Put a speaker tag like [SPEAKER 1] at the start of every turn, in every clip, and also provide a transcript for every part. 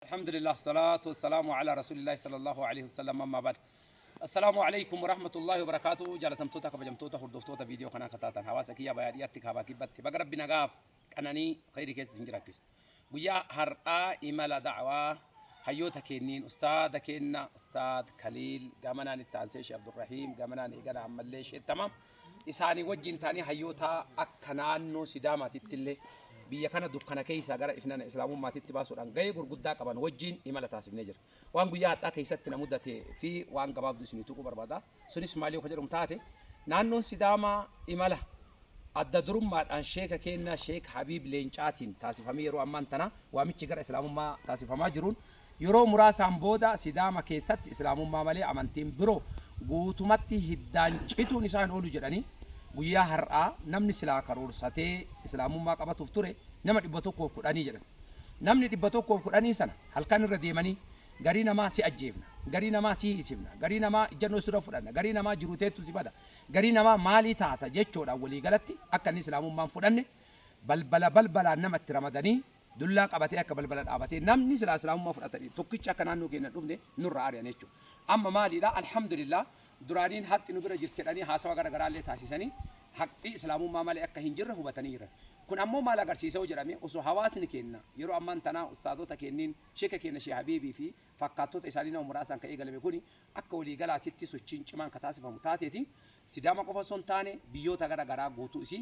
[SPEAKER 1] Alhamdulillah Salaatu Wassalaamu Alaa Rasuulillahi Sallallahu Aleyhi Wasallam Ammaa Ba'd Assalaamu Aleykum Warahmatullahi Wabarakaatu Jaalatamtoota Kabajamtoota Hordoftoota Viidiyoo Kanaa Kataatan Hawaasa Kiyyaa Bayaa Dhiyaatti Kaabaa Kibbatti Baga Rabbi Nagaaf Qananii Khayri Keessa Isin Jiraachise Guyyaa Har'aa Imala Da'awaa Hayyoota Keenniin Ustaada Keenna Ustaad Kaliil Gamanaan Itti Aansee Sheekh Abdurrahiim Gamanaan Eegala Ammallee Sheettamaam isaanii wajjin ta'anii hayyootaa akka naannoo Sidaamaatittillee biyya kana dukkana keessaa gara ifnana Islaamummaatitti baasuudhaan gahee gurguddaa qaban wajjin imala taasifnee jira. Waan guyyaa hadhaa keessatti na mudate fi waan gabaabdu isinii tuquu barbaada. Sunis maal yoo ka jedhamu taate naannoon Sidaamaa imala adda durummaadhaan sheeka keennaa Sheek Habiib Leencaatiin taasifamee yeroo ammaan tana waamichi gara Islaamummaa taasifamaa jiruun Yeroo muraasaan booda Sidaama keessatti Islaamummaa malee amantiin biroo guutumatti hiddaan cituun isaa hin oolu jedhanii guyyaa har'aa namni silaa karoorsatee Islaamummaa qabatuuf ture nama 110 jedhan. Namni 110 sana halkan irra deemanii garii namaa si ajjeefna, garii namaa si hiisifna, garii namaa ijjannoo sirra fudhanna, garii namaa jiruu teettu si bada, garii namaa maalii taata jechoodhaan waliigalatti akka inni Islaamummaa hin fudhanne balbala balbalaan nama itti ramadanii Dullaa qabatee akka balbala dhaabatee namni silaa islaamummaa fudhatanii tokkichi akka naannoo keenya hin dhufne nurraa ari'an jechuudha. Amma maaliidha alhamdulillah duraaniin haqxi nu bira jirti jedhanii haasawa gara garaa illee taasisanii haqxi islaamummaa malee akka hin jirre hubatanii jiran. Kun ammoo maal agarsiisa yoo jedhame osoo hawaasni keenya yeroo ammaan tanaa ustaazota keenniin sheeka keenya Sheikh Habiibii fi fakkaattota isaanii nama muraasaan ka eegalame kuni akka walii galaatitti sochiin cimaan ka taasifamu taateeti Sidaama qofa osoo hin taane biyyoota gara garaa guutuu isii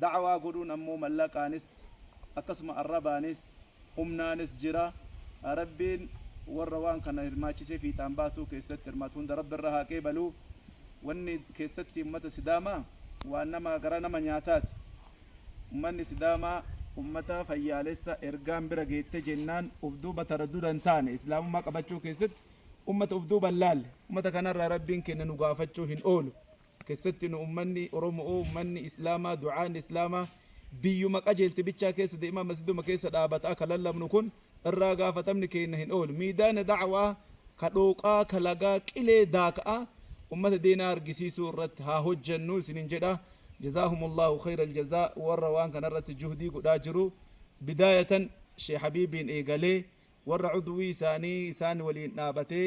[SPEAKER 2] Da'waa godhuun ammoo mallaqaanis akkasuma arrabaanis humnaanis jira. Rabbiin warra waan kana hirmaachisee fiixaan baasuu keessatti hirmaatu hunda Rabbi irraa haa qeebalu. Wanni keessatti ummata Sidaamaa waan nama garaa nama nyaataati. Ummanni Sidaamaa ummata fayyaalessa ergaan bira geette jennaan uf duuba taraddudha hin taane. Islaamummaa qabachuu keessatti ummata uf duuba hin laalle. Ummata kanarraa Rabbiin keenna nu gaafachuu hin oolu. kessatti nu ummanni oromo'oo ummanni islaamaa du'aan islaamaa biyyuma qajeelte bichaa keessa deemaa masjiduma keessa dhaabata'a ka lallabnu kun irraa gaafatamni keenna hin oolu miidaana da'awaa ka dhooqaa ka lagaa qilee daaka'aa ummata deenaa argisiisuu irratti haa hojjannu isinin jedha jazaahumullaahu khayral jazaa warra waan kana irratti juhdii godhaa jiru bidaayatan sheeh habiibiin eegalee warra cudwii isaanii isaan waliin dhaabatee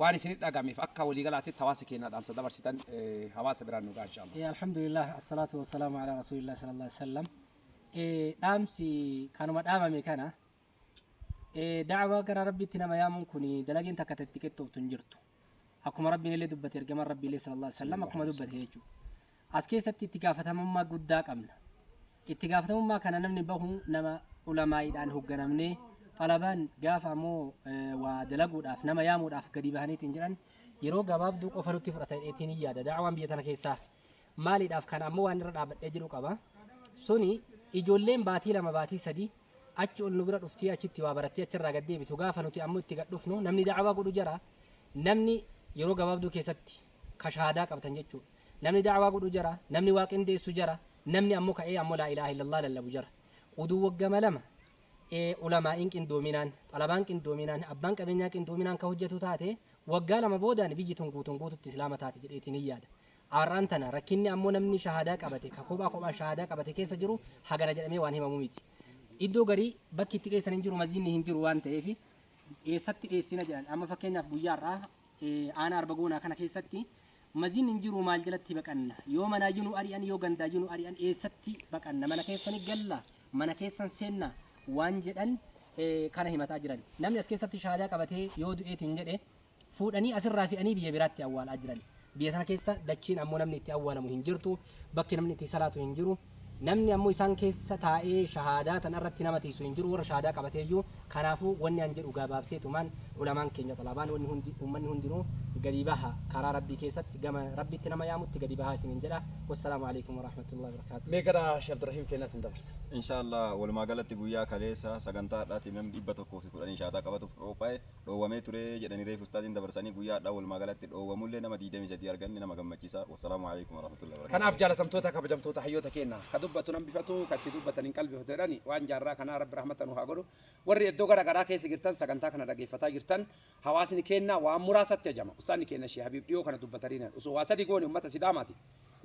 [SPEAKER 1] Waan isinitti dhagahameef akka walii galaatitti hawaasa keenyaa dhaamsa dabarsitan hawaasa biraan nu gahaa inshallah. Alhamdulillah assalaatu
[SPEAKER 3] wassalaamu ala rasuulillah sallallahu alaihi wasallam. Dhaamsi kanuma dhaamame kana da'awaa gara rabbiitti nama yaamuun kun dalageen takka itti qixxooftu hin jirtu. Akkuma rabbiin illee dubbate ergamaan rabbii illee sallallahu alaihi wasallam akkuma dubbate jechuudha. As keessatti itti gaafatamummaa guddaa qabna. Itti gaafatamummaa kana namni bahu nama ulamaa'iidhaan hogganamnee xalabaan gaafa ammoo waa dalaguudhaaf nama yaamuudhaaf gadi bahaniitiin jedhan yeroo gabaabduu qofa nutti fudhata jedheetiin hin yaada. Da'awaan biyya tana keessaa maaliidhaaf kana ammoo waan irra dhaabadhee jiru qaba. Suni ijoolleen baatii lama baatii sadii achi ol nu bira dhuftee achitti waa barattee achirraa gad deebitu gaafa nuti ammoo itti gad dhufnu namni da'awaa godhu jara namni yeroo gabaabduu keessatti ka shahaadaa qabtan jechuu namni da'awaa godhu jara namni waa qindeessu jara namni ammo ka'ee ammo laa ilaaha illallah lallabu jara uduu waggama lama ee ulamaa'iin qindoominaan xalabaan qindoominaan abbaan qabeenyaa qindoominaan ka hojjatu taate waggaa lama boodaan biyyi tun guutuun guututti islaama taati jedheetiin hin yaada ar'aan tana rakkinni ammoo namni shahaadaa qabate ka kophaa kophaan shahaadaa qabate keessa jiru hagana jedhamee waan himamu miti iddoo garii bakki itti geessan hin jiru masjidni hin jiru waan ta'eefi eessatti dheessina jedhan amma fakkeenyaaf guyyaa har'aa aanaa arba goonaa kana keessatti maziin hin jiru maal jalatti baqanna yoo manaa yunu ari'an yoo gandaa yunu ari'an eessatti baqanna mana keessani galla mana keessan seenna waan jedhan kana himataa jiran namni as keessatti shaadaa qabatee yoo du'eetiin jedhe fuudhanii asirraa fe'anii biyya biraatti awwaalaa jiran. Biyya sana keessa dachiin ammoo namni itti awwaalamu hin jirtu, bakki namni itti salaatu hin jiru. Namni ammoo isaan keessa taa'ee shahaadaa tana irratti nama tiisu hin jiru, warra shahaadaa qabateeyyuu. Kanaafuu wanni an jedhu gabaabseetumaan ulamaan keenya xalabaan wanni hundi ummanni hundinuu gadi baha karaa Rabbii keessatti gama Rabbitti nama yaamutti gadi bahaa isiniin jedha. Wassalaamu alaikum warahmatullahi wabarakaatuh. Mee gara Sheikh Abdurrahiim
[SPEAKER 1] keenyaa isin dabarsa. Inshallah walumaa
[SPEAKER 4] galatti guyyaa kaleessa sagantaa har'aati namni dhibba tokkoo fi kudhanii shahaadaa qabatuuf qophaa'e dhoowwamee ture jedhani reefu ustaaziin dabarsani guyyaa hadhaa walumaa galatti dhoowwamullee nama 23 arganne nama gammachiisa wassalaamu aleykum warahmatullahi wabarakatuh. Kanaaf jaalatamtoota kabajamtoota
[SPEAKER 1] hayyoota keenna ka dubbatu hin hambifatu ka itti dubbatan hin qalbifatu jedhani waan jaarraa kanaa rabbi rahmata nuu haa godhu warri eddoo gara garaa keessa jirtan sagantaa kana dhageeffataa jirtan hawaasni keenna waan muraasatti ajama ustaanni keenna shee habiib dhiyoo kana dubbataniiran osoo waa sadi goone ummata sidaamaati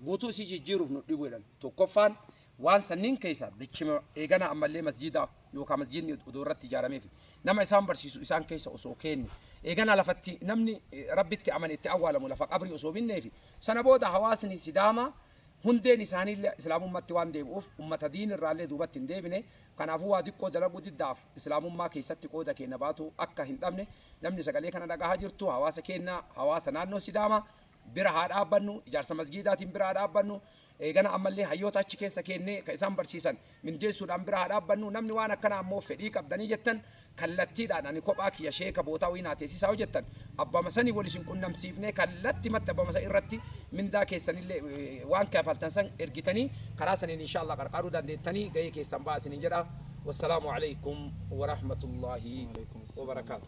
[SPEAKER 1] guutuu isii jijjiiruuf nu dhibu jedhan tokkoffaan Waan sanniin keessaa dachima eeganaa ammallee masjiidaa yookaa masjiidni odoo irratti ijaarameefi nama isaan barsiisu isaan keessa osoo keenne eeganaa lafatti namni rabbitti amane itti awwaalamu lafa qabrii osoo binneefi sana booda hawaasni sidaamaa hundeen isaaniillee islaamummatti waan deebi'uuf ummata diin irraallee duubatti hin deebine kanaafuu waa diqqoo dalaguu diddaaf islaamummaa keessatti qooda keenya baatu akka hin dhabne namni sagalee kana dhagahaa jirtu hawaasa keenya hawaasa naannoo sidaamaa bira haa dhaabbannu, ijaarsa masgiidaatiin bira haa dhaabbannu, eegana ammallee hayyoota achi keessa keennee kan isaan barsiisan mindeessuudhaan bira haa dhaabbannu, namni waan akkanaa ammoo fedhii qabdanii jettan kallattiidhaan ani kophaa kiyya sheeka bootaa wayii naa teessisaa yoo jettan abbama sanii wal isin qunnamsiifnee kallattimatti abbama san irratti mindaa keessanillee eh, waan kafaltan san ergitanii karaa saniin inshaallah qarqaaruu dandeettanii gahee keessan ba'aa isiniin jedha wassalaamu alaikum warahmatullaahi wabarakaatu